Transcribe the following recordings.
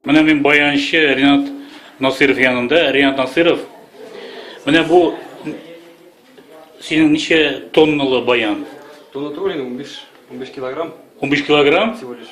Менә мин баянчы Ринат Насиров янында. Ринат Насиров, менә бу синең ничә тонналы баян? Тонна түгел инде, 15, 15 килограмм. 15 килограмм? Всего лишь.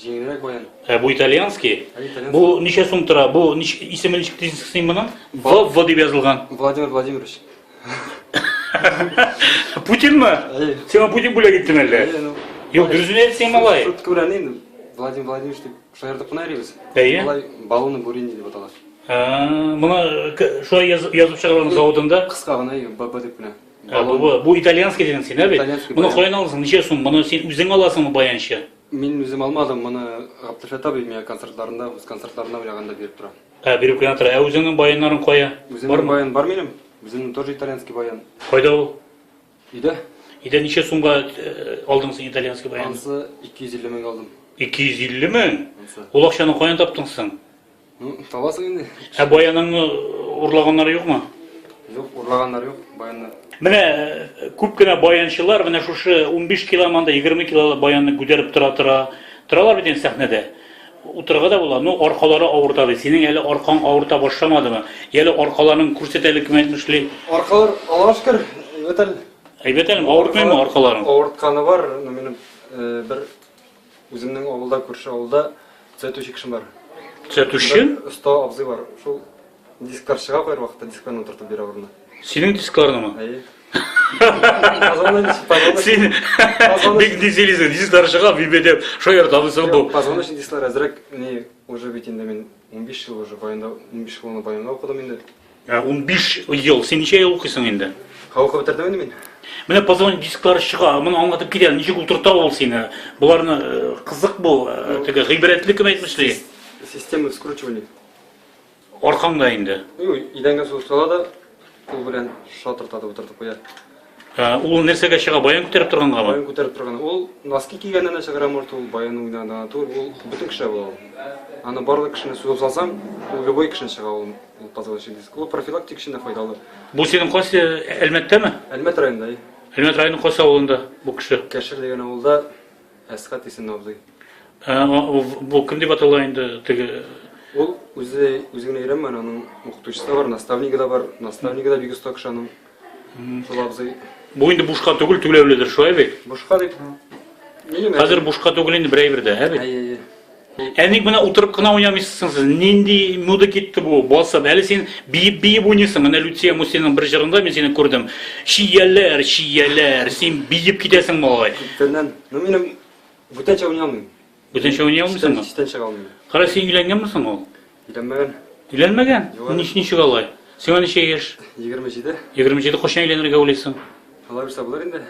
Җиңелрәк баян. Ә бу итальянский? Бу ничә сум тора? Бу исеме ничек дисең моның? В В дип язылган. Владимир Владимирович. Путинмы? Сиңа Путин бүләк иттеме әллә? Юк, дөресен әйтсең, малай. Шутка белән инде Владимир Владимирович дип шаяртып кына йөрибез. Әйе. Малай балуны бурини дип атала. Моны шулай язып чыгарган заводында кыска гына ББ дип кенә. Ә, бу, бу итальянский дидең син, ә бит? Моны каян аласың? Ничә сум? Моны син үзең аласыңмы баянчы? Мин үзем алмадым, моны Гаптелфәт абый миңа концертларында, үз концертларына уйнаганда биреп тора. Ә, биреп кенә тора. Ә үзеңнең баяннарың кая? Үземнең баян бар минем. Үземнең тоже итальянский баян. Кайда ул? Өйдә. Өйдә ничә сумга алдың син итальянский баянны? Ансы 250 меңгә алдым. 250 мең? Ансы. Ул акчаны каян таптың соң? Ну, табасың инде. Ә баяныңны урлаганнар юкмы? Юк, урлаганнар юк, баянны. Менә э, күп кенә баянчылар менә шушы 15 киломанда 20 килолы баянны күтәреп тора тора. Торалар бит инде сәхнәдә. Утырга да була. Ну, аркалары авырта ди. Синең әле аркаң авырта башламадымы? Әле аркаларың күрсәтәлек мәйтмешли. Аркалар Аллаһка шөкер, әйбәт әле. Әйбәт әле, авыртмыймы аркаларың? Авыртканы бар, но минем э, бер Үземнең авылда, күрше авылда төзәтүче кешем бар. Төзәтүче? Оста абзый бар. Шул дисклар чыга бер вакытта дискларны утыртып бирә урынына. Синең дискларнымы? Әйе. Син бик дизелизен, дисклар чыга бибе дип, шул ярда абзый бу. Казан өчен дисклар әзрәк, ни, уже бит инде мин 15 ел уже баянда, 15 елны баянда укыдым инде. Ә 15 ел, син ничә ел укыйсың инде? Ха укып бетердем инде мин. Менә позвонить дисклары чыга, моны аңлатып китә, ничек утырта ул сине? Боларны э, кызык бу, э, теге гыйбрәтле кем әйтмешли? Система скручивания. Аркаңда инде. Ю, идәнгә су сала да, кул белән шатыртады, утыртып куя. Ә, ул нәрсәгә чыга? Баян күтәреп торганга ма? Баян күтәреп торган. Ул носки кигәннән дә чыгара может, ул баян уйнаганда гына түгел, ул бөтен кешегә була ул. Аны барлык кешене сузып салсаң, ул любой кешене чыга ул, ул позвоночный диск. Ул профилактик өчен дә файдалы. Бу синең кайсы Әлмәттәме? Әлмәт районында, и. Әлмәт районы кайсы авылында бу кеше? Кәшер дигән авылда Әсхәт исемле абзый. Ә, о, в- бу кем дип атала инде теге? Ул үзе үзе генә өйрәнмәгән, аның укытучысы да бар, наставнигы да бар. Наставнигы да бик оста кеше аның. Шул абзый. Бу инде бушка түгел, түләүледер, шулай бит? Бушка дип. Минем Хәзер бушка түгел инде бер әйбер дә, ә бит? Әйе, әйе. Әник менә утырып кына уйнамыйсың сез. Нинди муда китте бу? Басып. Әле син биеп-биеп уйныйсың. Менә Люция Мусиның бер җырында мин сине күрдем. Чияләр, чияләр. Син биеп китәсең малай. Күптәннән. Ну минем бүтәнчә уйный алмыйм. Бүтәнчә уйный алмыйсыңмы? Читән чыга алмыйм. Кара син өйләнгәнме соң ул? Өйләнмәгән. Өйләнмәгән? Нич ничек алай? Сиңа ничә яшь? 27. 27 качан өйләнергә уйлыйсың? Алай булса булыр инде.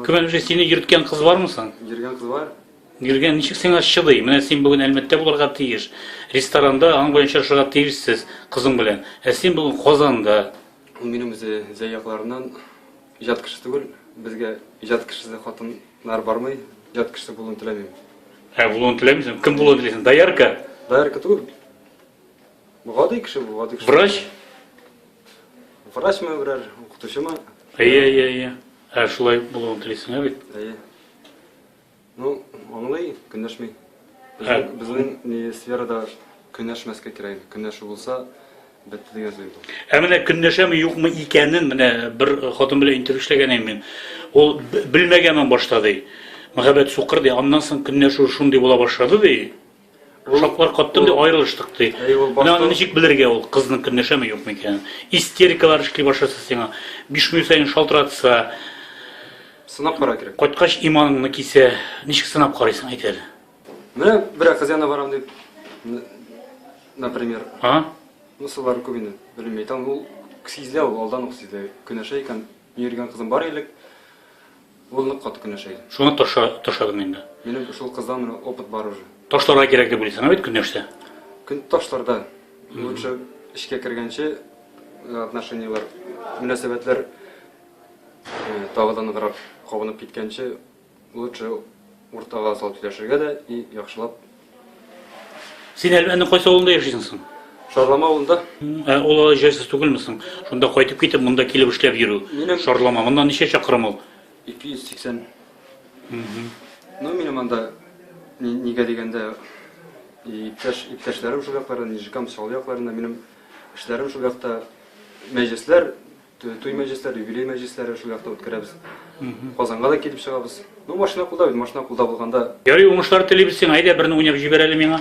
Кем әле сине йөрткән кыз бармы соң? Йөргән кыз бар. Гөлгә, ничек сиңа чыдый? Менә син бүген Әлмәттә булырга тиеш. Ресторанда аның белән очрашырга тиешсез, кызың белән. Ә син бүген Казанда. Ул минем үзе җәй якларыннан, иҗат кеше түгел. Безгә иҗат кешесе хатыннар бармый, иҗат кешесе булуын теләмим. Ә булуын теләмисең? Кем булуын телисең? Доярка? Доярка түгел. Бу гади кеше бу, гади кеше. Врач? Врачмы берәр, укытучымы? Әйе, әйе, әйе. Ә шулай булуын телисең, ә бит? Әйе. Ну, аңлый, көнләшми. Безнең, безнең ни сферада көнләшмәскә кирәк. Көнләшү булса, бетте дигән сүз бу. Ә менә көнләшәме юкмы икәнен менә бер хатын белән интервью эшләгән идем мин. Ул белмәгәнмен башта ди. Мәхәббәт сукыр ди. Аннан соң көнләшү шундый була башлады ди. Ошаклар каттым ди, аерылыштык ди. Менә аны ничек белергә ул, кызның көнләшәме, юкмы икәнен? Истерикалар эшли башласа сиңа, биш минут саен шалтыратса. Сынап карар кирәк. Кайткач иманыңны кисә. Ничек сынап карыйсың, әйт әле? Менә берәр кыз янына барам дип, например. А? Мисаллар күп инде, белмим, әйтәм, ул сизелә ул, алдан ук сизелә. Көнләшә икән, мин йөргән кызым бар элек. Ул нык каты көнләшә иде. Шуны таша, ташладым инде. Минем шул кыздан менә опыт бар уже. Ташларга кирәк дип уйлыйсың, ә бит көнләшсә? Көн ташларда. Лучше эчкә кергәнче э, отношениеләр, мөнәсәбәтләр э, тагы да ныграк кабынып киткәнче лучше уртага салып сөйләшергә дә и яхшылап Син Әлмәтнең кайсы авылында яшисең соң? Шарлама авылында. Ә ул алай җайсыз түгелме соң? Шунда кайтып китеп, монда килеп эшләп йөрү. Минем- Шарлама. Моннан ничә чакрым ул? 280. Ну, минем анда, ни- нигә дигәндә, и иптәш, иптәшләрем шул якларда, Нижикам, Чаллы якларында, минем эшләрем шул якта, мәҗлесләр Туй мәҗлесләре, юбилей мәҗлесләре шул якта үткәрәбез. Казанга да килеп чыгабыз. Ну, машина кулда бит, машина кулда булганда. Ярый, уңышлар телибез сиңа. Әйдә, берне уйнап җибәр әле миңа.